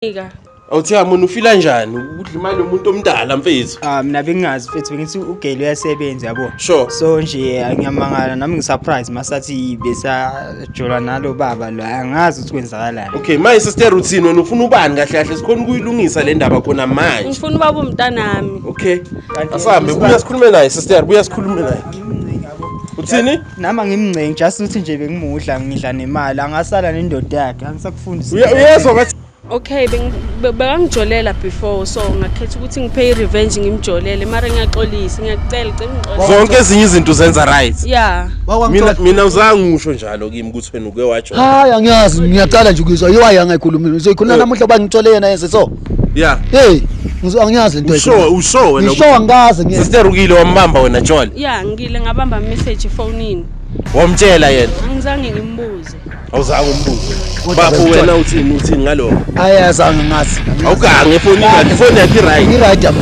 Ika. Awuthiya mona ufila njani? Udla imali yomuntu omdala mfethu. Ah mina bengingazi mfethu bengithi ugele uyasebenza yabo. Sure. So nje ngiyamangala nami ngisurprise masathi besajola nalo baba lo angazi ukuthi kwenzakalani. Okay, my sister routine wena ufuna ubani kahle kahle sikhona ukuyilungisa le ndaba khona manje. Ngifuna ubaba umntanami. Okay. Asambe buya sikhulume naye sister, buya sikhulume naye. Uthini? Nama ngimncengi just uthi nje bengimudla ngidla nemali angasala nendoda yakhe angisakufundisi. Uyezwa ngathi Okay bekangijolela before so ngakhetha ukuthi ngiphe revenge ngimjolele mara ngiyaxolisa ngiyakucela cela ngixolele. Zonke ezinye izinto zenza right. Yeah. Mina mina uzangisho njalo kimi ukuthi wena uke wajola. Hayi angiyazi ngiyaqala nje ukuzwa. Yiwa yangayikhuluma. Uzoyikhuluma namuhla bangithole yena yenze so. Yeah. Hey, ngizwa angiyazi into Usho ayikho. usho wena. Ngisho angikaze ngiye. Sister ukile wambamba wena Jola. ya ngile ngabamba message efonini Wamtshela yena. angizange ngimbuze Awuzange umbuze. Bafo wena uthini uthini ngaloko. Ayazange ngazi. Awugange ifoni yakhe, ifoni yakhe right. Ngi right yami.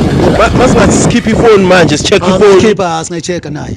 Masingathi sikhipha ifoni manje, sicheck ifoni. Ngikhipha singayicheka naye.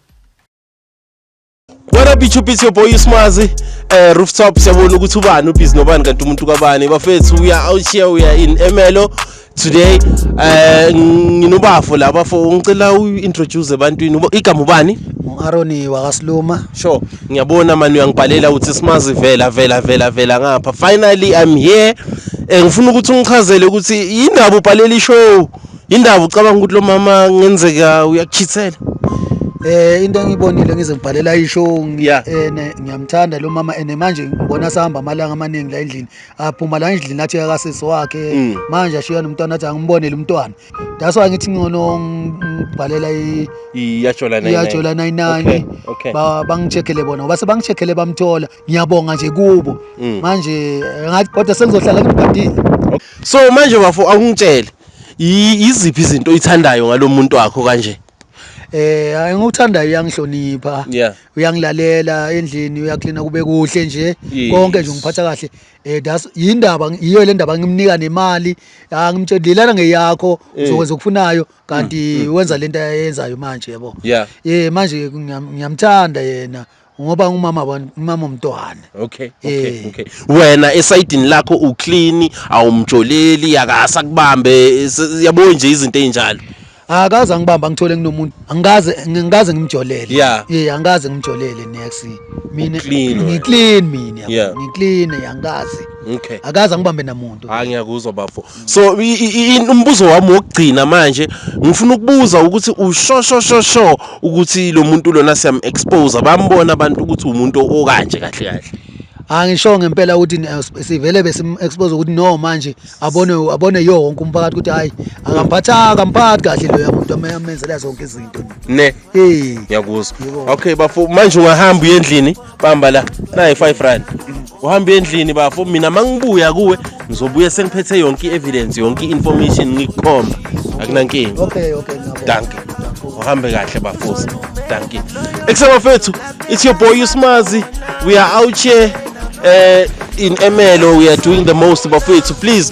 What up YouTube it's your boy Usmazi eh rooftop siyabona ukuthi ubani ubhizi nobani kanti umuntu kabani bafethu we are out here we are in Emelo today eh nginobafo la bafo ngicela u introduce ebantwini Uba- igama ubani Aroni wakasiluma sure ngiyabona mani uyangibhalela uthi simazi vela vela vela vela ngapha finally i'm here eh ngifuna ukuthi ungichazele ukuthi yindaba ubhalela ishow Indaba ucabanga ukuthi lo mama ngenzeka uyakuchithela? Eh into engiyibonile ngize ngibhalela isho Yeah. ene ngiyamthanda lo mama ene manje ngibona sahamba amalanga amaningi la endlini. Aphuma la endlini athi akasisi wakhe. Mm. Manje ashiya nomntwana athi angimbonele umntwana. That's why ngithi ngcono ngibhalela i Iyajola nayo. iyajola 99 Okay, okay. ba bangicheckele bona ngoba sebangicheckele bamthola ngiyabonga nje kubo Mm. manje ngathi kodwa sengizohlala ngibhadile So manje bafo awungitshele. iziphi izinto oyithandayo ngalomuntu wakho kanje eh hayi ngokuthandayo uyangihlonipha yeah. uyangilalela endlini uyaklina kube kuhle nje yes. konke nje ngiphatha kahle eh that's yindaba yiyo le ndaba ngimnika nemali angimtshela lelana ngeyakho eh. uzokwenza ukufunayo kanti mm, mm, wenza mm. lento ayenzayo manje yebo yeah. eh manje ngiyamthanda yena ngoba ngumama abantu umama umntwana okay okay eh. okay wena esayidini lakho u clean awumjoleli akasa kubambe yabo nje izinto ezinjalo akaze angibamba ngithole nginomuntu angikaze ngikaze ngimjolele yeah yeah angikaze ngimjolele next mina ngi clean mina ngi clean angikaze okay akaze angibambe namuntu ha ngiyakuzwa bafo so umbuzo wami wokugcina manje ngifuna ukubuza ukuthi ushoshoshoshosho ukuthi lo muntu lona siyam-expose bambona abantu ukuthi umuntu okanje kahle kahle angisho ah, ngempela ukuthi eh, sivele besim-expose ukuthi no manje abone abone yo wonke umphakathi ukuthi hhayi akamphathanga akamphathi kahle loya muntu amenzela zonke izinto ne ngiyakuzwa okay bafo manje ungahamba uye endlini qamba la nayi 5 rand uhamba endlini bafo mina mangibuya kuwe ngizobuya sengiphethe yonke i-evidence yonke i-information ngikukhomba akunankinga okay okay danke uhambe kahle bafosi danke ekusabafethu it's your boy usmazi we are out here uh, in Emelo, we are doing the most, Bafethu. Please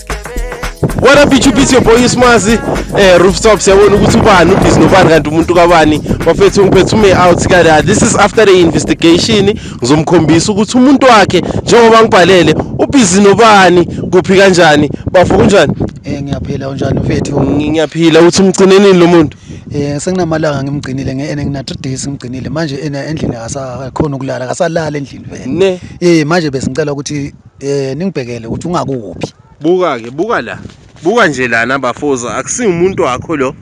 What up YouTube it's your boy Smazi eh rooftop siyabona ukuthi ubani ubhizi nobani kanti umuntu kabani bafethu ngiphethe ume out kada this is after the investigation ngizomkhombisa ukuthi umuntu wakhe njengoba ngibhalele ubhizi nobani kuphi kanjani bafo kunjani Eh ngiyaphila unjani mfethu? Ngiyaphila uthi umgcinenini lo muntu? Eh senginamalanga ngimgcinile ngene ngina 3 days ngimgcinile manje endlini akasakhona ukulala akasalala endlini vele. Eh manje besicela ukuthi Eh ningibhekele ukuthi ungakuphi. Buka ke, buka la. Buka nje lana bafoza, akusi umuntu wakho lo.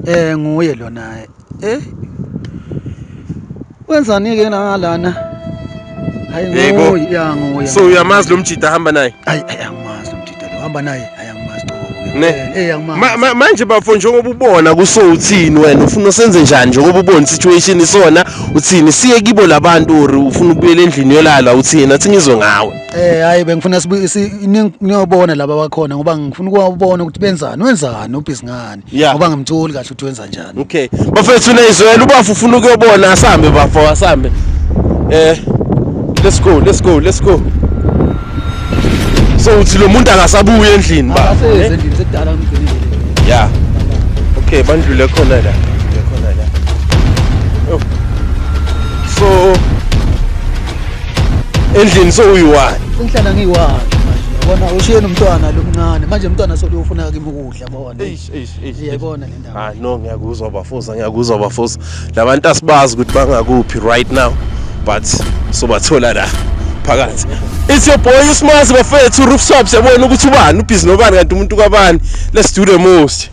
Eh nguye lona. Eh. Wenzani ke la lana? Hayi nguye, ya nguye. So uyamazi lo mjita hamba naye? Hayi, hayi. hamba naye ayangimazi eh, manje bafo njengoba ubona kuso uthini wena ufuna usenze njani njengoba ubona situation isona uthini siye kibo labantu or ufuna ukubuyela endlini yolala uthini athi ngizwe ngawe eh hayi bengifuna niyobona laba bakhona ngoba ngifuna ukubona ukuthi benzani wenzani ubhizi ngani Yeah. ngoba ngimtholi kahle ukuthi wenza njani Okay. Bafethu nezwela ubafu ufuna ukuyobona asambe bafo asambe. Eh let's go let's go let's go. So uthi lo muntu akasabuye endlini ba. Akasezi endlini sekudala ngimgcinile Yeah. Okay bandlule khona la. Khona la. Oh. So endlini so uyiwani? sengihlala ngiyi-one manje yabona ushiyeni umntwana lo mncane manje umntwana soluyofuna kimi ukudla yabona eish eish eish yayibona le ndaba ah no ngiyakuzwa bafosa ngiyakuzwa bafosa labantu asibazi ukuthi bangakuphi right now but sobathola la phakathi it's your boy usimazi bafethu rooftop siyabona ukuthi ubani ubhizi nobani kanti umuntu kabani let's do the most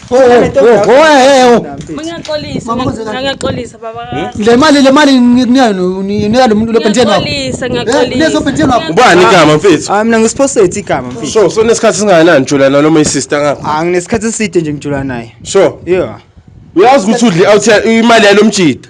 Oh, oh, oh, eh, eh, Ngiyaxolisa, ngiyaxolisa baba ka. Le mali le mali ngikunika nginika lo muntu lobhentsheni wakho. Ngiyaxolisa, ngiyaxolisa. Leso bhentsheni wakho. Ubani igama mfethu? Ah mina ngisiphosethe igama mfethu. Sho, so nesikhathi singakanani ngijulana noma isister ngapha? Ah nginesikhathi eside nje ngijulana naye. Sho. Yeah. Uyazi ukuthi udli out imali yalomjita.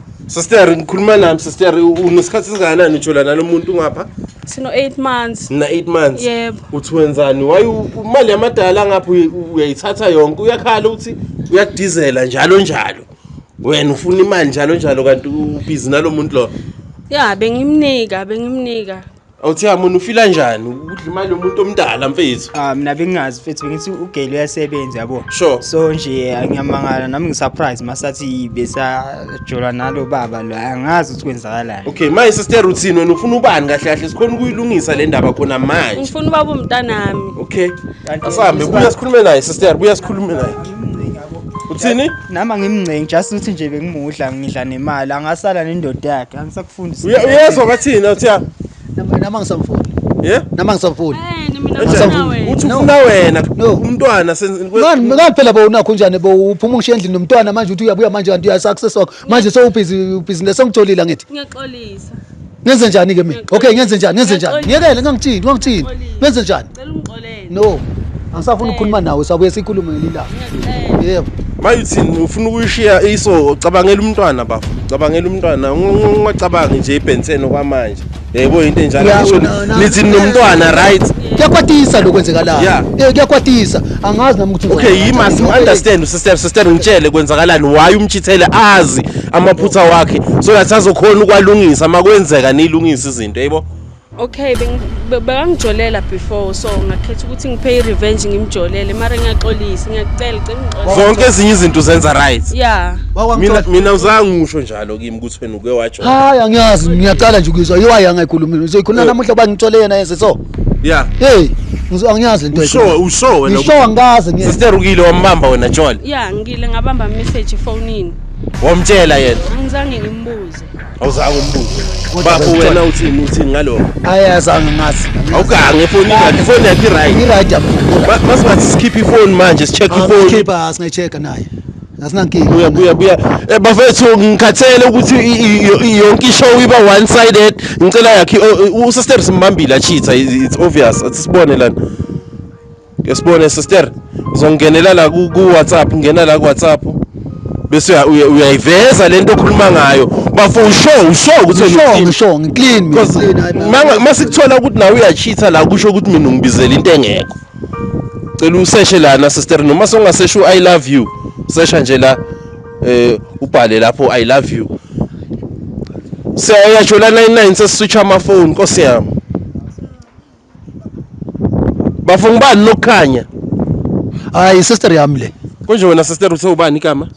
Sister ngikhuluma nami sister unesikhathi singakanani ujola nalomuntu ngapha? Sino 8 months. Na 8 months. Yebo. Uthi wenzani? Why imali yamadala ngapha uyayithatha yonke uyakhala uthi uyadizela njalo njalo. Wena ufuna imali njalo njalo kanti ubhizi nalomuntu lo. Ya bengimnika bengimnika Awuthiya mona ufila njani ukudla imali yomuntu omdala mfethu? Ah mina bengazi mfethu bengithi ugeli uyasebenza yabo. Sure. So nje ngiyamangala nami ngisurprise masathi besajola nalo baba lo angazi ukuthi kwenzakalani. Okay, my sister routine wena ufuna ubani kahle kahle sikhona ukuyilungisa le ndaba khona manje. Ngifuna ubaba umntanami. Okay. Asambe buya sikhulume naye sister, buya sikhulume naye. Uthini? Nama ngimncengi just ukuthi nje bengimudla ngidla nemali angasala nendoda yakhe angisakho Mfundisi. Uye- Uyezwa bathini othiya? Nama- Nama ngisamfuni. Yeah? Nama ngisamfuni. Yini mina Enjani? ngifuna wena. Uthi ufuna wena No. umntwana senze- Ngani ngani phela bowunakho njani bowuphuma ungishiya endlini nomntwana manje uthi uyabuya manje kanti uyasaccess wakho. Manje sewubhizi business sengitholile angithi. Ngiyaxolisa. Ngenze njani ke mina? Okay ngenze njani? Ngenze njani? Ngiyakele ngangithini? Wangithini? Ngenze njani? Cela ungixolele. No. Angisafuni ukukhuluma nawe, sabuye sikhulume ngelilanga. Ngiyacela. Yebo. Mayuthini ufuna ukuyishiya iso cabangela umntwana bafo. Cabangela umntwana ungacabangi nje ibhensene kwamanje. Yebo into enjalo Yeah, ngisho no, no. nithi nomntwana right. Kuyakwatisa lokho kwenzekalayo. Yeah. Eh kuyakwatisa. Angazi nami ukuthi Okay ngizokwenza yima kanjani. sim understand sister sister ngitshele kwenzakalani why umchithele azi amaphutha wakhe so that azokhona ukwalungisa makwenzeka nilungisa izinto yebo. Okay bekangijolela before so ngakhetha ukuthi ngiphe i-revenge ngimjolele mara ngiyaxolisa ngiyakucela cela ngixolele zonke ezinye izinto uzenza right yeah mina mina uzangisho njalo kimi ukuthi wena uke wajola hayi angiyazi ngiyaqala nje ukuzwa yiwayi angayikhulumile uzoyikhuluma eh. namuhla uba ngithole yena yese so yeah hey angiyazi lento usho usho wena usho ngikaze ngeke sister ukile wambamba wena jola yeah ngile ngabamba message efonini wamtshela yena angizange ngimbuze awuzange umbuze bafo wena uthini uthini ngaloko ayazange ngazi awugange ifoni yakhe ifoni yakhe i-right i-right masingathi sikhiphe ifoni manje si-check ifoni khipha singayi-check-a naye asinankinga buya buya buya eh, bafethu ngikhathele ukuthi yonke ishow iba one sided ngicela yakhe usesteps mbambile achitha it's obvious sibone lana ke sibone sister uzongenela la ku WhatsApp ngena la ku WhatsApp bese uyayiveza lento okhuluma ngayo bafo usho usho ukuthi usho ngisho ngiclean mina masikuthola ukuthi nawe uyacheater la kusho ukuthi mina ngibizela into engekho cela useshe lana sister noma songasesho i love you sesha nje la eh ubhale lapho i love you siyayajula 99 sesiswitch ama phone nkosi yami Bafunga ubani lokukhanya? Hayi sister yami le. Konje wena sister uthe ubani igama?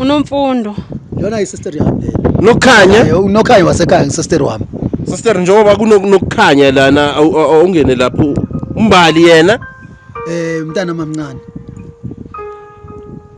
Unomfundo. Yona i sister yami le. Nokukhanya? Eh, Unokhanya wasekhaya sister wami. Sister njengoba kunokukhanya lana awu- awu- awungene lapho umbali yena Eh mntana mamncane.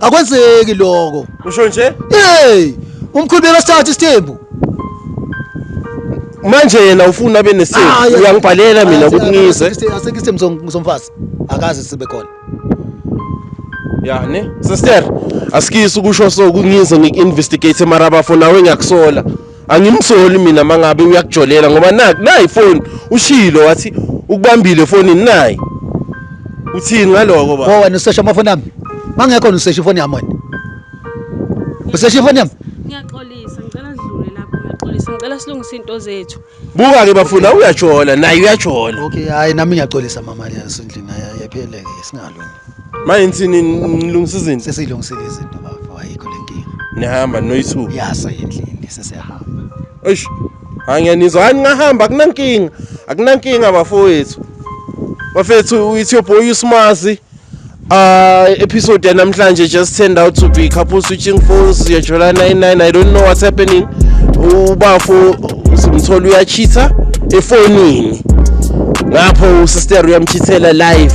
akwenzeki lokho usho nje hey umkhulu bekasithatha isithembu manje yena ufuna abe nesithembu Ah, yeah. uyangibhalela mina ukuthi ngize asekho isithembu som- somfazi akazi sibe khona ya ne sister asikisi ukusho so kungize ngiku-investigate mara bafo nawe ngiyakusola angimsoli mina mangabe uyakujolela ngoba naku nayi ifoni ushilo wathi ukubambile efonini nayi uthini ngaloko ba Wo wena usesha amafoni ami. Mangekho usesha ifoni yami wena. Usesha ifoni yami. Ngiyaxolisa ngicela sidlule lapho ngiyaxolisa ngicela silungise into zethu. buka ke bafuna uyajola naye uyajola Okay, hayi nami ngiyaxolisa mama yasendlini ayapheleke singalungi. Manje nithini nilungisa izinto? Sesilungisile izinto bafo ayikho lenkinga. Nihamba noyithuba. Yasa endlini sesiyahamba. Eish. Hayi ngiyanizwa hayi ngahamba akunankinga. Akunankinga bafowethu. Bafethu it's your boy uSmazi. Uh, episode ya namhlanje just turned out to be couple switching phones ya July 99 I don't know what's happening ubafo simthola uyachitha efonini ngapho usister uyamchithela live